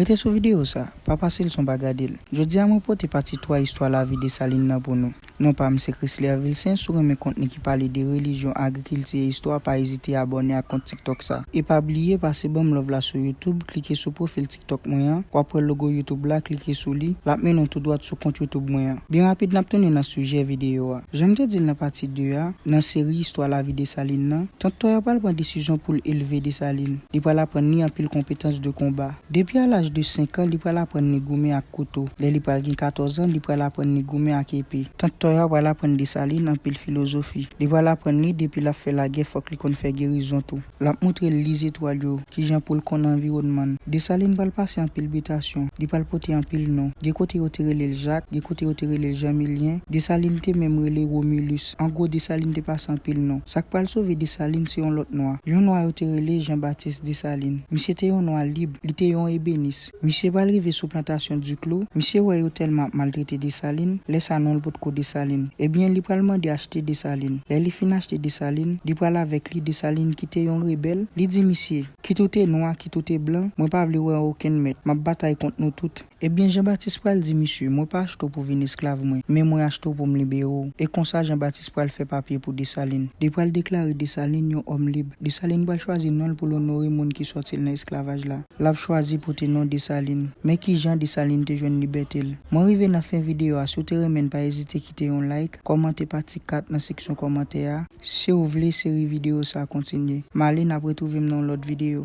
Rete sou videyo sa, pa pase l san w pa gade l. Jodi a mwen pote pati 3 istwa lavi Desalin nan pou nou. Non pa m se Chrisler Vilcin, si w renmen kontni ki pale de relijyon, agrikilti e istwa pa ezite abòne ak kont tiktok sa. E pa bliye pase banm love la sou youtube, klike sou pwofil tiktok mwen an, wap wè logo youtube la, klike sou li, lap mennen w tou dwat sou kont youtube mwen an. Byen rapid nap tounen nan sijè videyo a. Jan m te di l nan pati 2 a, nan seri istwa lavi Desalin nan, Tant Tòya pral pran desizyon pou l elve Desalin. Li pral aprann li anpil konpetans de konba. Depi a laj de 5 an, li pral aprann li goumen ak kouto. Lè li pral gen 14 an, li pral aprann li goumen ak epe. Tant Tòya pral aprann Desalin anpil filozofi. Li pral aprann li, depi l ap fè lagè fòk li konn fè gerizon tou. L ap montre l li zetwal yo, ki jan pou l konn anviwònman l. Desalin pral pase anpil bitasyon, li pral pote anpil non. Gen kote yo te rele l Jak, gen kote yo te rele l Janmilyen, Desalin te menm rele Romilus. An gwo, Desalin te pase anpil non. Sa k pral sove Desalin se yon lòt Nwa. Yon Nwa yo te rele Janbatis Desalin. Misye te yon Nwa lib, li te yon ebenis. Misye pral rive sou plantasyon Duclos, misye wè yo tèlman ap maltrete Dessalines, lè sa non l potko Dessalines. Ebyen li pral mande achte Dessalines. Lè li fin achte Dessalines, li pral avèk li Dessalines ki te yon rebèl, li di misye, kit ou te nwa, kit ou te blan, mwen pa vle wè an okenn mèt, m ap batay kont nou tout. Ebyen Jean Baptiste pral di misye, mwen pa achte w pou vin esklav mwen, men mwen achte w pou m libere w. E konsa Jean Baptiste pral fè papye pou Dessalines. Li pral deklare Dessalines yon òm lib. Dessalines pral chwazi non l pou l onore moun ki sòti l nan esklavaj la. L ap chwazi pote non Desalin. Men kijan Desalin te jwenn libète l. Mwen rive nan fen videyo a si w te renmen n pa ezite kite yon like, kòmante pati 4 nan seksyon kòmantè a, si w vle seri videyo sa kontinye. M ale n ap retwouve m nan yon lòt videyo.